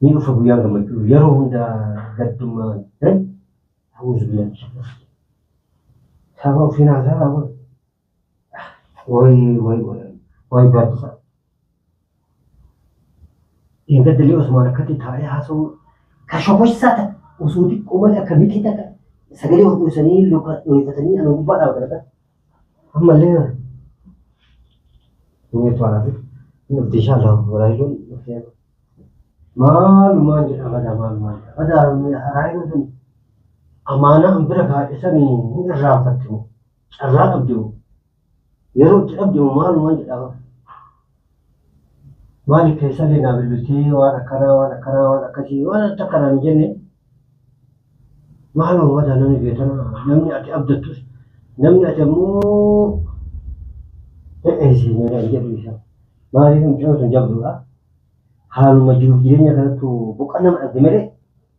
Ni dhufa guyyaan gammachuu yeroo hunda gaddummaa dan ta'uus biyya saba ofiin haasaa raawwan way way way baaddisa. Eega dalee Osmaan akkatti taa'ee haasa'uu ka shokossaa ta'a osoo xiqqoo malee akka mitii ta'a sagalee hodhuusanii luka dhooyfatanii ana gubbaa dhaabatan Ammallee Nuweetu haadha. Nuti inshallah Raayiluun dhufee maalumaan jedha badaa maalumaan jedha badaa Raayiluun sun amaanaa an bira kaa'e sanii hin irraanfatte moo carraa dhabde moo yeroo itti dhabde moo maalumaan jedha Maaliif keessallee naa bilbiltee waan akkanaa waan akkanaa waan akkasii waan ati takka naan hin jenne maaloo madaa namni beetana namni ati abdattus namni ati ammoo hin eegsisne naan jedhu isa maaliif mucaan sun jabduudha haaluma jiruuf jireenya kanattu boqannaa dhabde malee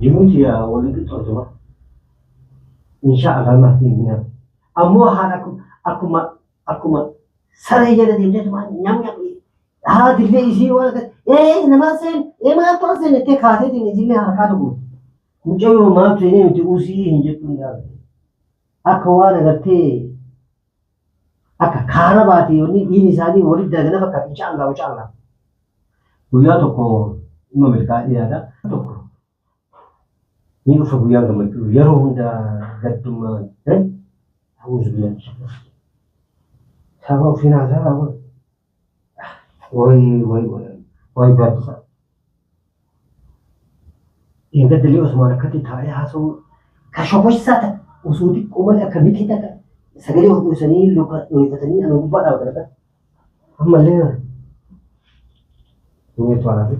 Jiruun tiyya walitti tortuma. Inshaa Allah ma hin guna. Ammoo haala akkuma akkuma saree jala deemtee tumaa nyam nyam haati illee isii waan akka ee namaa seen ee maal turan seen jettee kaateetiin isillee harkaa tokko. Mucayyoo maal seenee miti usii hin jettuun dhaabde. Akka waan agartee akka kaara baatee wanni dhiin isaanii walitti dalagana fakkaata insha Allah insha Allah guyyaa tokko dhimma milkaa'ee yaada tokko ni dhufa guyyaa gammachuu yeroo hunda gaddummaa ta'e ta'uu zubilaa saba ofiin haasaa raawwatu. Woy woy woy woy gaaddisa. Eeggaddalee Osmaan akkatti taa'ee haasa'uu ka shokossaa ta osoo xiqqoo malee akka miqii takka sagalee ol dhoosanii luka dhoyfatanii ana gubbaa dhaabatan akka ammallee kana. Inni itti waan hafe.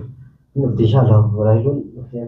Inni dhufte inshaa Allah walaayilloon dhuftee.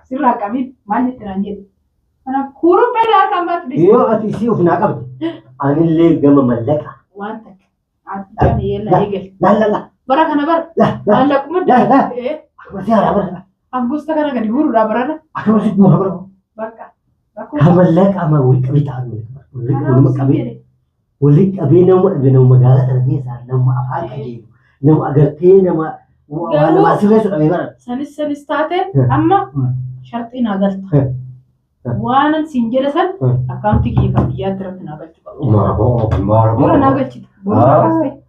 Asirraa qabiin maal jetti naan jedhu. Kanaaf kuruphee na harkaan baatu dhiisi. Yoo ati isii of naa qabde anillee gama mallaqa. Waan takka. Ati jaan yeella eegali. Lallala. Bara kana bara. La la. Maallaquma La la. Eh, Akkuma si haaraa bara. Angusta kana gadi guurudha barana. Akkuma si guura bara. Bakka. Kamallee qaama wal qabee taa'an wal nama qabee wal qabee nama dhabe nama magaalaa tana keessaa nama afaan qajeelu nama agartee nama waa Garuu- nama sirreessu dhabee bara. Sanis sanis taate Hmm. amma Hmm. sharxii naa galta. Hmm. Hmm. Waanan siin jedhe san Hmm. akkaawuntii kiyya kan biyyaatti irratti naa galchu qabu. Maaraboo Dura naa maaraboo. galchita. Boona Ah. kaastee.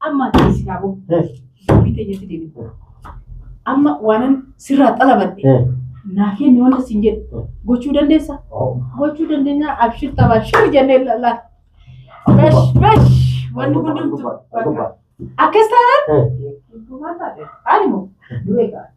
Amma ati si haa boo. Eh, Dubbii teenyatti deebiin. Amma waanan sirraa xalabadhe eh. naa kenni wanta siin jedhu gochuu dandeessa. Oh. Gochuu dandeenya abshir taphaa shir jennee ilaalaa. Bash bash wanni hundumtu. Akkas taanaan Eh, ani moo du'ee ga'a.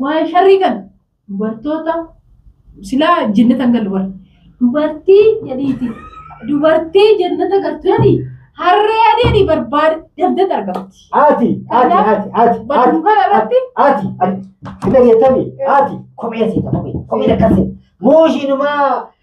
Waa'ee sharrii kana dubartoota silaa jennata hin galle warri. Dubartii jedhiiti. Dubartii jennata galtu jedhi harree adii jedhi barbaade dafdee argamti. Ati, ati, ati, ati, Bakka ati, kana irratti ati, ati, hin dhageettami, ati, kophee seeta, kophee, kophee lakkasse, muushiinumaa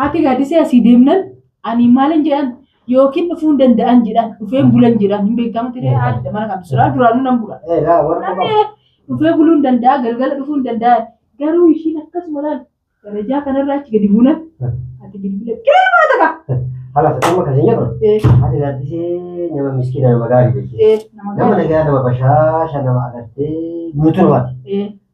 Haati Gaaddisee asii deemnan ani maalin jedhan yookiin dhufuu hin danda'an jedhan dhufee hin bulan jedhan hin beekamu ture haadha mana kan suuraa duraanuu nan bula. Eh, laa, warra Namni qofa. dhufee buluu hin danda'a galgala dhufuu hin danda'a garuu ishiin akkasuma laal darajaa kanarra achi gadi buunan ati bilbila qeemaa taqa. Halas, amma kan hin jedhu. Eh, Haati Gaaddisee nama miskiina nama gaarii beekti. eh, nama Nama gaarii. nagaa nama bashaasha nama agartee guutuu namaati. Eh,